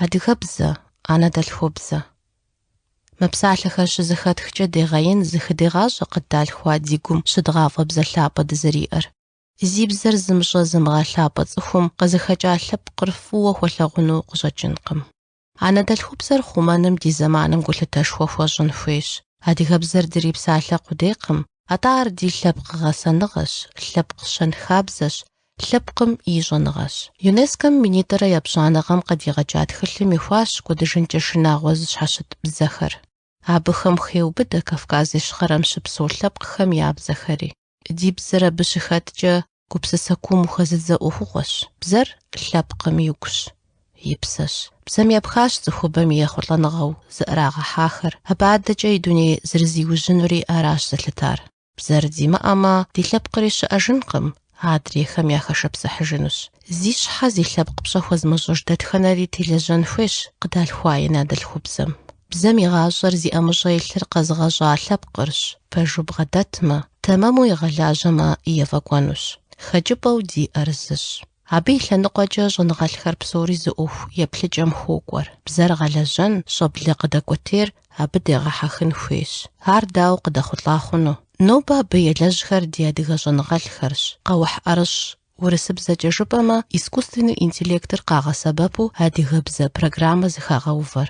Адыгэбзэ, анэдэлъхубзэ. Мы псалъэхэр щызэхэтхкӏэ дегъэин зыхыдегъащӏэ къыддалъхуа ди гум щыдгъафӏэ бзэ лъапӏэ дызэриӏэр. Зи бзэр зымыщӏэ-зымыгъэлъапӏэ цӏыхум къызыхэкӏа лъэпкъыр фӏыуэ хуэлъэгъуну къыщӏэкӏынкъым. Анэдэлъхубзэр хъумэным ди зэманым гулъытэшхуэ хуэщӏын хуейщ. Адыгэбзэр дрипсалъэ къудейкъым, атӏэ ар ди лъэпкъ гъэсэныгъэщ, лъэпкъ щэнхабзэщ, лъэпкъым и щӏэныгъэщ. ЮНЕСКО-м минитӏрэ епщӏанэ гъэм къыдигъэкӏа тхылъым ихуащ кӏуэдыжынкӏэ шынагъуэ зыщхьэщыт бзэхэр. Абыхэм хеубыдэ Кавказ Ищхъэрэм щыпсэу лъэпкъхэм я бзэхэри. Ди бзэр абы щыхэткӏэ гупсысэ куум ухэзыдзэ ӏуэхугъуэщ. Бзэр лъэпкъым и гущ, и псэщ. Бзэм епхащ цӏыхубэм и ехъулӏэныгъэу зыӏэрагъэхьахэр, абы адэкӏэ и дуней зэрызиужьынури аращ зэлъытар. Бзэр димыӏэмэ, ди лъэпкъри щыӏэжынкъым, адрейхэм яхэшэпсыхьыжынущ. Зи щхьэ, зи лъэпкъ пщӏэ хуэзмыщӏыж дэтхэнэри телэжьэн хуейщ къыдалъхуа и анэдэлъхубзэм. Бзэм и гъащӏэр зи ӏэмыщӏэ илъыр къэзыгъэщӏа лъэпкъырщ, пэжу бгъэдэтмэ, тэмэму игъэлажьэмэ, ефӏэкӏуэнущ. Хэкӏыпӏэу диӏэр зыщ. Абы и лъэныкъуэкӏэ щӏэныгъэлӏхэр псори зы ӏуэху еплъыкӏэм хуокӏуэр, бзэр гъэлэжьэн, щӏэблэ къыдэкӏуэтейр абы дегъэхьэхын хуейщ. Ар дауэ къыдэхъулӏа хъуну? Нобэ абы елэжьхэр ди адыгэ щӏэныгъэлӏхэрщ, къэухь ӏэрыщӏ, урысыбзэкӏэ жыпӏэмэ, искусственный интеллектыр къагъэсэбэпу адыгэбзэ программэ зыхагъэувэр.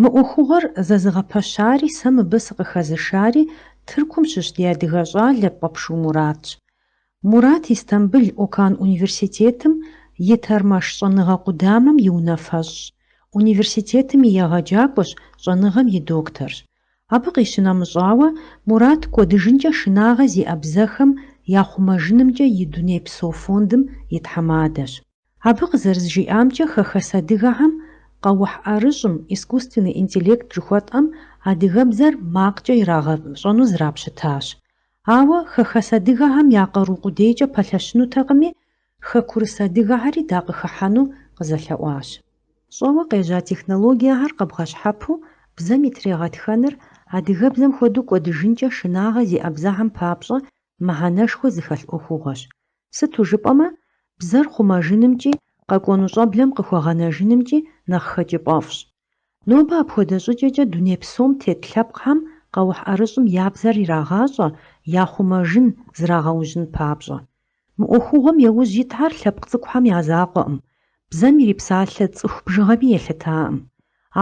Мы ӏуэхугъуэр зэзыгъэпэщари сэ мыбы сыкъыхэзышари Тыркум щыщ ди адыгэ щӏалэ Пӏэпшу Муратщ. Мурат Истамбыл Окан университетым и Тэрмэш щӏэныгъэ къудамэм и унафэщӏщ, университетым и егъэджакӏуэщ, щӏэныгъэм и докторщ. Абы къищынэмыщӏауэ, Мурат кӏуэдыжынкӏэ шынагъэ зиӏэ бзэхэм я хъумэжынымкӏэ и Дунейпсо фондым и тхьэмадэщ. Абы къызэрызжиӏамкӏэ, хэхэс адыгэхэм къэухь ӏэрыщӏым, искусственный интеллект жыхуэтӏэм, адыгэбзэр макъкӏэ ирагъэщӏэну зрапщытащ. Ауэ хэхэс адыгэхэм я къару къудейкӏэ пэлъэщынутэкъыми, хэкурыс адыгэхэри дакъыхыхьэну къызэлъэӏуащ. Щӏэуэ къежьа технологиехэр къэбгъэщхьэпу бзэм и трегъэтхэныр адыгэбзэм хуэдэу кӏуэдыжынкӏэ шынагъэ зиӏэ бзэхэм папщӏэ мыхьэнэшхуэ зыхэлъ ӏуэхугъуэщ. Сыту жыпӏэмэ, бзэр хъумэжынымкӏи, къэкӏуэну щӏэблэм къыхуэгъэнэжынымкӏи нэхъ хэкӏыпӏэфӏщ. Нобэ апхуэдэ щӏыкӏэкӏэ дуней псом тет лъэпкъхэм къэухь ӏэрыщӏым я бзэр ирагъащӏэ яхъумэжын зрагъэужьын папщӏэ. Мы ӏуэхугъуэм яужь итхэр лъэпкъ цӏыкӏухэм я закъуэкъым, бзэм ирипсалъэ цӏыху бжыгъэми елъытакъым.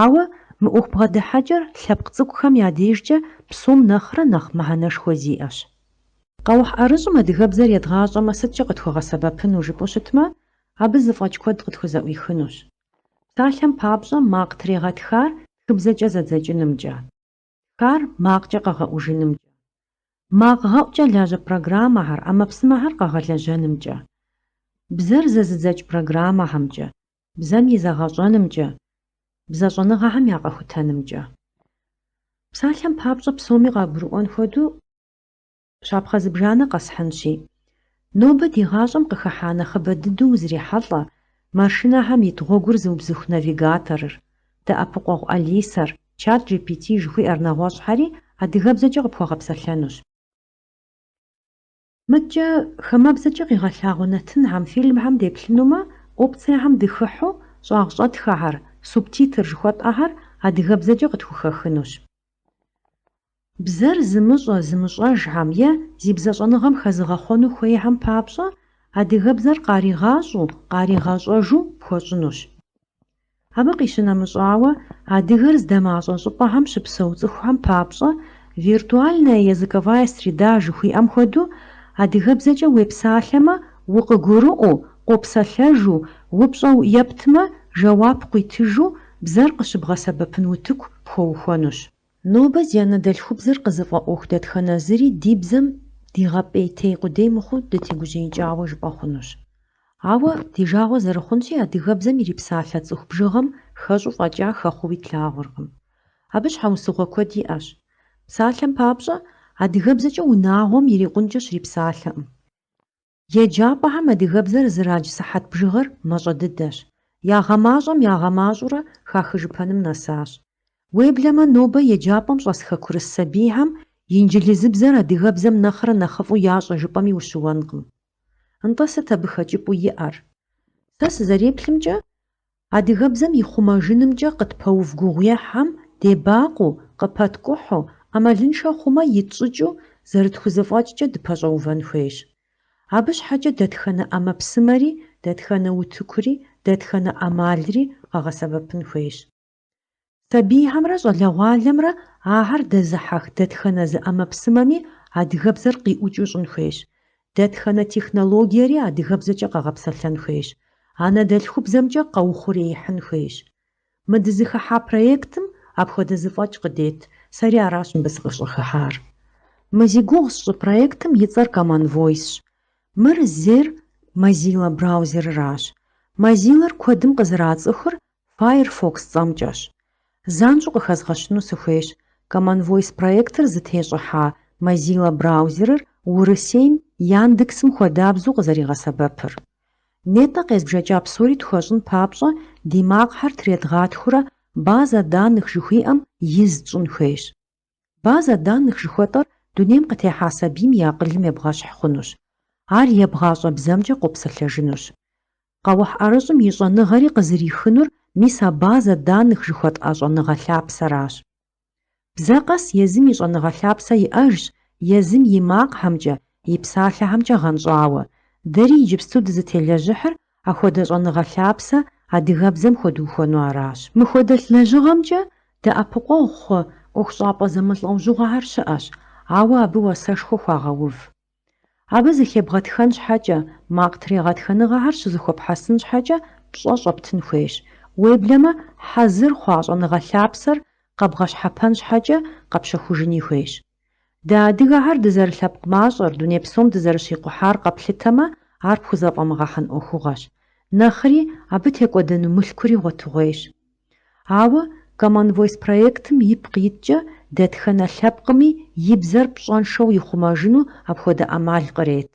Ауэ мы ӏуэху бгъэдыхьэкӏэр лъэпкъ цӏыкӏухэм я дежкӏэ псом нэхърэ нэхъ мыхьэнэшхуэ зиӏэщ. Къэухь ӏэрыщӏым адыгэбзэр едгъащӏэмэ сыткӏэ къытхуэгъэсэбэпыну жыпӏэу щытмэ, абы зэфӏэкӏ куэд къытхузэӏуихынущ. Псалъэм папщӏэ, макъ трегъэтхар тхыбзэкӏэ зэдзэкӏынымкӏэ. Тхар макъкӏэ къэгъэӏужынымкӏэ. Макъ гъэӏукӏэ лажьэ программэхэр, ӏэмэпсымэхэр къэгъэлэжьэнымкӏэ. Бзэр зэзыдзэкӏ программэхэмкӏэ, бзэм и зэгъэщӏэнымкӏэ, бзэ щӏэныгъэхэм я къэхутэнымкӏэ. Псалъэм папщӏэ псоми къагурыӏуэн хуэдэу, Щапхъэ зыбжанэ къэсхьынщи. Нобэ ди гъащӏэм къыхыхьа нэхъыбэ дыдэу узрихьэлӏэ машинэхэм ит гъуэгур зыубзыху навигаторыр, дэӏэпыкъуэгъу Алисэр, чат GPT жыхуиӏэр нэгъуэщӏхэри адыгэбзэкӏэ къыпхуэгъэпсэлъэнущ. Мыдкӏэ, хамэбзэкӏэ къигъэлъагъуэ нэтынхэм, фильмхэм деплъынумэ, опциехэм дыхыхьу, щӏагъ щӏэтхэхэр, субтитр жыхуэтӏэхэр адыгэбзэкӏэ къытхухэхынущ. Бзэр зымыщӏэ, зымыщӏэжхэм е зи бзэщӏэныгъэм хэзыгъэхъуэну хуейхэм папщӏэ адыгэбзэр къаригъащӏэу, къаригъэщӏэжу пхуэщӏынущ. Абы къищынэмыщӏауэ, адыгэр здэмащӏэ щӏыпӏэхэм щыпсэу цӏыхухэм папщӏэ виртуальная языковая среда жыхуиӏэм хуэдэу адыгэбзэкӏэ уепсалъэмэ, укъыгурыӏуэу, къопсэлъэжу, упщӏэу ептмэ, жэуап къуитыжу бзэр къыщыбгъэсэбэпын утыку пхуэухуэнущ. Нобэ зи анэдэлъхубзэр къызыфӏэӏуэху дэтхэнэ зыри ди бзэм дигъэпӏейтей къудей мыхъуу дытегужьеикӏауэ жыпӏэ хъунущ. Ауэ, ди жагъуэ зэрыхъунщи, адыгэбзэм ирипсалъэ цӏыху бжыгъэм хэщӏу фӏэкӏа хэхъууи тлъагъуркъым. Абы щхьэусыгъуэ куэд иӏэщ. Псалъэм папщӏэ, адыгэбзэкӏэ унагъуэм ирикъункӏэ щрипсалъэкъым. Еджапӏэхэм адыгэбзэр зэрадж сыхьэт бжыгъэр мащӏэ дыдэщ. Ягъэмащӏэм ягъэмащӏэурэ хахыжыпэным нэсащ. Уеблэмэ нобэ еджапӏэм щӏэс хэкурыс сабийхэм инджылызыбзэр адыгэбзэм нэхърэ нэхъыфӏу ящӏэ жыпӏэми ущыуэнкъым. Нтӏэ сыт абы хэкӏыпӏу иӏэр? Сэ сызэреплъымкӏэ, Адыгэбзэм и хъумэжынымкӏэ къытпэув гугъуехьхэм дебакъуэу, къыпэткӏухьу, ӏэмалыншэ хъумэ, итщӏыкӏыу зэрытхузэфӏэкӏкӏэ дыпэщӏэувэн хуейщ. Абы щхьэкӏэ дэтхэнэ ӏэмэпсымэри, дэтхэнэ утыкури, дэтхэнэ ӏэмалри къэгъэсэбэпын хуейщ. Сабийхэмрэ щӏалэгъуалэмрэ ахэр дэзыхьэх дэтхэнэ зы ӏэмэпсымэми адыгэбзэр къиӏукӏыу щӏын хуейщ. Дэтхэнэ технологиери адыгэбзэкӏэ къэгъэпсэлъэн хуейщ, анэдэлъхубзэмкӏэ къэухъуреихьын хуейщ. Мы дызыхыхьа проектым апхуэдэ зэфӏэкӏ къыдет, сэри аращ мыбы сыкъыщӏыхыхьар. Мы зи гугъу сщӏы проектым и цӏэр Common Voice-щ. Мыр зейр Mozilla браузерыращ. Mozilla-р куэдым къызэрацӏыхур Firefox цӏэмкӏэщ. Занщӏэу къыхэзгъэщыну сыхуейщ, Common Voice проектыр зытещӏыхьа Mozilla браузерыр Урысейм Яндексым хуэдабзэу къызэригъэсэбэпыр. Нетӏэ къезбжэкӏа псори тхуэщӏын папщӏэ ди макъхьэр тредгъатхурэ база данных жыхуиӏэм из тщӏын хуейщ. Базэ данных жыхуэтӏэр дунейм къытехьа сабийм и акъылым ебгъэщхь хъунущ. Ар ебгъащӏэ бзэмкӏэ къопсэлъэжынущ. Къэухь ӏэрыщӏым и щӏэныгъэри къызэрихынур мис а базэ данных жыхуэтӏа щӏэныгъэ лъапсэращ. Бзэ къэс езым и щӏэныгъэ лъапсэ иӏэжщ, езым и макъхэмкӏэ, и псалъэхэмкӏэ гъэнщӏауэ. Дэри иджыпсту дызытелэжьыхьыр Апхуэдэ щӏэныгъэ лъапсэ адыгэбзэм хуэдухуэну аращ. Мыхуэдэ лэжьыгъэмкӏэ дэӏэпыкъуэгъу хъу ӏуэхущӏапӏэ зэмылӏэужьыгъуэхэр щыӏэщ, ауэ абы уасэшхуэ хуагъэув. Абы зыхебгъэтхэн щхьэкӏэ, макъ трегъэтхэныгъэхэр щызэхуэпхьэсын щхьэкӏэ пщӏэ щӏэптын хуейщ. Уеблэмэ, хьэзыр хъуа щӏэныгъэ лъапсэр къэбгъэщхьэпэн щхьэкӏэ къэпщэхужыни хуейщ. Дэ адыгэхэр дызэрылъэпкъ мащӏэр, дуней псом дызэрыщикъухьар къэплъытэмэ, ар пхузэфӏэмыгъэхьэн ӏуэхугъуэщ. Нэхъри, абы текӏуэдэну мылъкури гъуэтыгъуейщ. Ауэ Common Voice проектым ипкъ иткӏэ дэтхэнэ лъэпкъми и бзэр пщӏэншэу ихъумэжыну апхуэдэ ӏэмал кърет.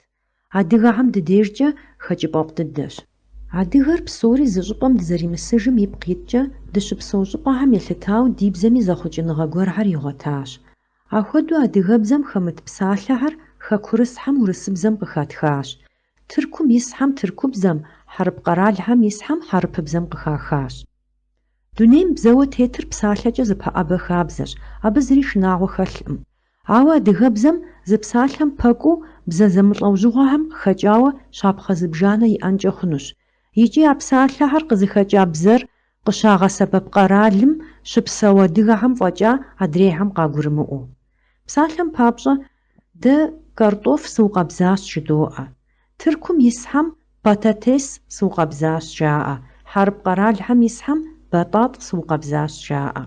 Адыгэхэм ди дежкӏэ хэкӏыпӏэфӏ дыдэщ. Адыгэр псори зы щӏыпӏэм дызэримысыжым ипкъ иткӏэ, дыщыпсэу щӏыпӏэхэм елъытауэ ди бзэми зэхъуэкӏыныгъэ гуэрхэр игъуэтащ. Ахуэдэу адыгэбзэм хэмыт псалъэхэр хэкурысхьэм урысыбзэм къыхэтхащ, тыркум исхьэм тыркубзэм, хьэрып къэралхэм исхьэм хьэрыпыбзэм къыхахащ. Дунейм бзэуэ тетыр псалъэкӏэ зэпэӏэбэ хабзэщ, абы зыри шынагъуэ хэлъкъым. Ауэ адыгэбзэм зы псалъэм пэкӏуэу бзэ зэмылӏэужьыгъуэхэм хэкӏауэ щапхъэ зыбжанэ иӏэнкӏэ хъунущ. Икӏи а псалъэхэр къызыхэкӏа бзэр къыщагъэсэбэп къэралым щыпсэу адыгэхэм фӏэкӏа адрейхэм къагурымыӏуэу. Псалъэм папщӏэ, Дэ кӏэртӏоф сыукъэбзащ жыдоӏэ. Тыркум исхьэм пататес сыукъэбзащ жаӏэ, хьэрып къэралхэм исхьэм батӏатӏ сыукъэбзащ жаӏэ.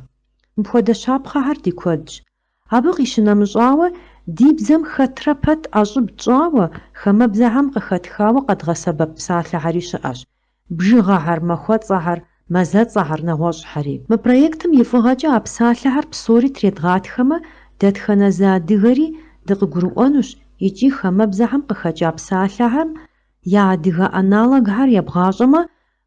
Мыпхуэдэ щапхъэхэр ди куэдщ. Абы къищынэмыщӏауэ, ди бзэм хэтрэ пэт ӏэщӏыб тщӏауэ, хамэбзэхэм къыхэтхауэ къэдгъэсэбэп псалъэхэри щыӏэщ. бжыгъэхэр, махуэцӏэхэр, мазэцӏэхэр, нэгъуэщӏхэри. Мы проектым и фӏыгъэкӏэ а псалъэхэр псори тредгъатхэмэ, дэтхэнэ зы адыгэри дыкъыгурыӏуэнущ икӏи хамэбзэхэм къыхэкӏа псалъэхэм я адыгэ аналогхэр ебгъащӏэмэ,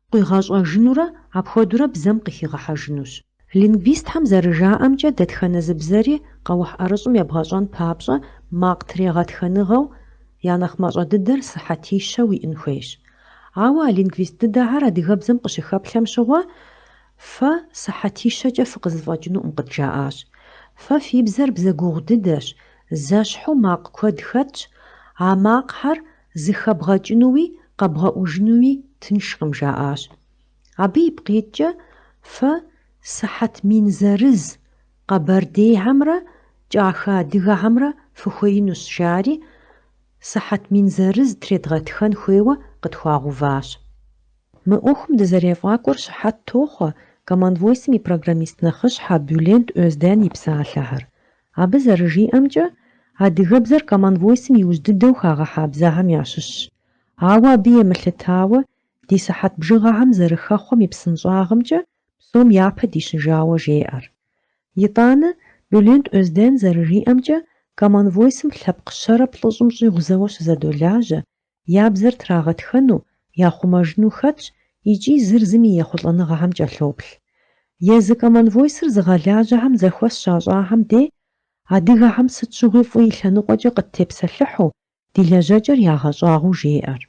къуигъэщӏэжынурэ апхуэдэурэ бзэм къыхигъэхьэжынущ. Лингвистхэм зэрыжаӏэмкӏэ, дэтхэнэ зы бзэри къэухь ӏэрыщӏым ебгъэщӏэн папщӏэ макъ трегъэтхыныгъэу я нэхъ мащӏэ дыдэр сыхьэтищэу иӏын хуейщ. Ауэ а лингвист дыдэхэр адыгэбзэм къыщыхэплъэм щыгъуэ, фэ сыхьэтищэкӏэ фыкъызыфӏэкӏынукъым къыдджаӏащ. Фэ фи бзэр бзэ гугъу дыдэщ, зэщхьу макъ куэд хэтщ, а макъхэр зыхэбгъэкӏынуи къэбгъэӏужынуи тыншкъым, жаӏащ. Абы ипкъиткӏэ фэ сыхьэт мин зырыз къэбэрдейхэмрэ кӏахэ адыгэхэмрэ фыхуеинущ, жари, сыхьэт мин зырыз тредгъэтхэн хуейуэ къытхуагъуващ. Мы ӏуэхум дызэрефӏакӏуэм щыхьэт тохъуэ Common Voice-м и программист нэхъыщхьэ Бюлент Озден и псалъэхэр. Абы зэрыжиӏэмкӏэ, адыгэбзэр Common Voice-м иужь дыдэу хагъэхьа бзэхэм ящыщщ, ауэ абы емылъытауэ Ди сыхьэт бжыгъэхэм зэрыхэхъуэм и псынщӏагъымкӏэ псом япэ дищыжауэ жеӏэр. Итӏанэ, Бюлент Озден зэрыжиӏэмкӏэ, Common Voice-м лъэпкъ щэрэ плӏыщӏым щӏигъу зэуэ щызэдолажьэ, я бзэр трагъэтхэну, яхъумэжыну хэтщ икӏи зыр зым и ехъулӏэныгъэхэм кӏэлъоплъ. Езы Common Voice-р зыгъэлажьэхэм зэхуэс щащӏахэм де, адыгэхэм сыт щыгъуи фӏы и лъэныкъуэкӏэ къыттепсэлъыхьу, Ди лэжьэкӏэр ягъэщӏагъуэу жеӏэр.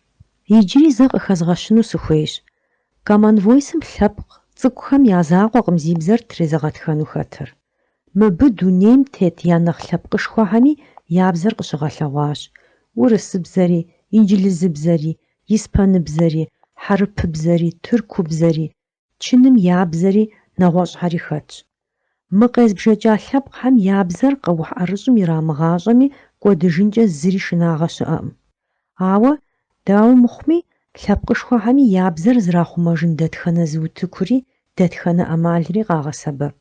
Иджыри зэ къыхэзгъэщыну сыхуейщ. Common Voice-м лъэпкъ цӏыкӏухэм я закъуэкъым зи бзэр трезыгъэтхэну хэтыр. Мыбы дунейм тет я нэхъ лъэпкъышхуэхэми я бзэр къыщыгъэлъэгъуащ, урысыбзэри, инджылызыбзэри, испаныбзэри, хьэрыпыбзэри, тыркубзэри, Чыным я бзэри нэгъуэщӏхэри хэтщ. Мы къезбжэкӏа лъэпкъхэм я бзэр къэухь ӏэрыщӏым ирамыгъащӏэми кӏуэдыжынкӏэ зыри шынагъэ щыӏэкъым. Ауэ, дауэ мыхъуми, лъэпкъышхуэхэми я бзэр зрахъумэжын дэтхэнэ зы утыкури, дэтхэнэ ӏэмалри къагъэсэбэп.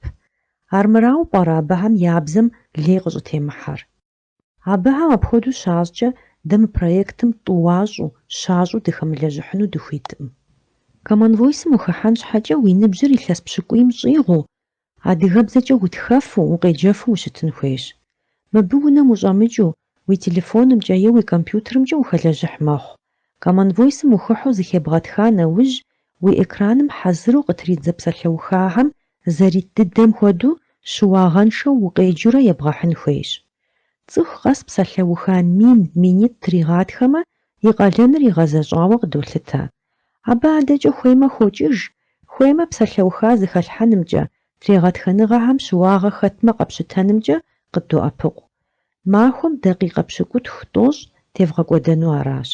Армырауэ пӏэрэ абыхэм я бзэм лей къыщӏытемыхьэр? Абыхэм апхуэдэу щащӏкӏэ, дэ мы проектым тӏуащӏу, щащӏу дыхэмылэжьыхьыну дыхуиткъым. Команвойсым ухыхьэн щхьэкӏэ уи ныбжьыр илъэс пщыкӏуийм щӏигъуу, адыгэбзэкӏэ утхэфу, укъеджэфу ущытын хуейщ. Мыбы унэм ущӏэмыкӏыу, уи телефонымкӏэ е уи компьютерымкӏэ ухэлэжьыхь мэхъу, Common Voice-м ухыхьу зыхебгъэтха нэужь, уи экраным хьэзыру къытридзэ псалъэухахэм зэрит дыдэм хуэдэу щыуагъэншэу укъеджэурэ ебгъэхьын хуейщ. Цӏыху къэс псалъэуха мин, минитӏ тригъатхэмэ, и къалэныр игъэзэщӏауэ къыдолъытэ. Абы адэкӏэ хуеймэ хокӏыж, хуеймэ псалъэуха зыхэлъхьэнымкӏэ, трегъэтхэныгъэхэм щыуагъэ хэтмэ къэпщытэнымкӏэ къыддоӏэпыкъу. Махуэм дакъикъэ пщыкӏутху тӏощӏ тевгъэкӏуэдэну аращ.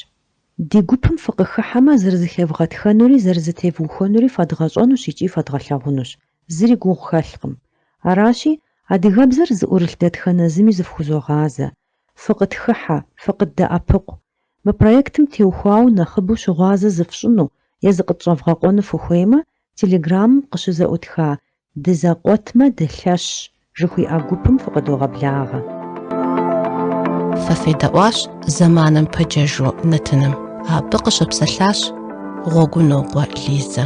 Ди гупым фыкъыхыхьэмэ, зэрызыхевгъэтхэнури зэрызэтевухуэнури фэдгъэщӏэнущ икӏи фэдгъэлъагъунущ, зыри гугъу хэлъкъым. Аращи, адыгэбзэр зыӏурылъ дэтхэнэ зыми зыфхузогъазэ. Фыкъытхыхьэ, фыкъыддэӏэпыкъу. Мы проектым теухуауэ нэхъыбэу щыгъуазэ зыфщӏыну е зыкъытщӏэвгъэкъуэну фыхуеймэ, телеграммым къыщызэӏутха Дызэкъуэтмэ, дылъэщщ, жыхуиӏэ гупым фыкъыдогъэблагъэ. Фэ федэӏуащ зэманым пэджэжу нэтыным. Абы къыщыпсэлъащ Гъуэгунокъуэ Лизэ.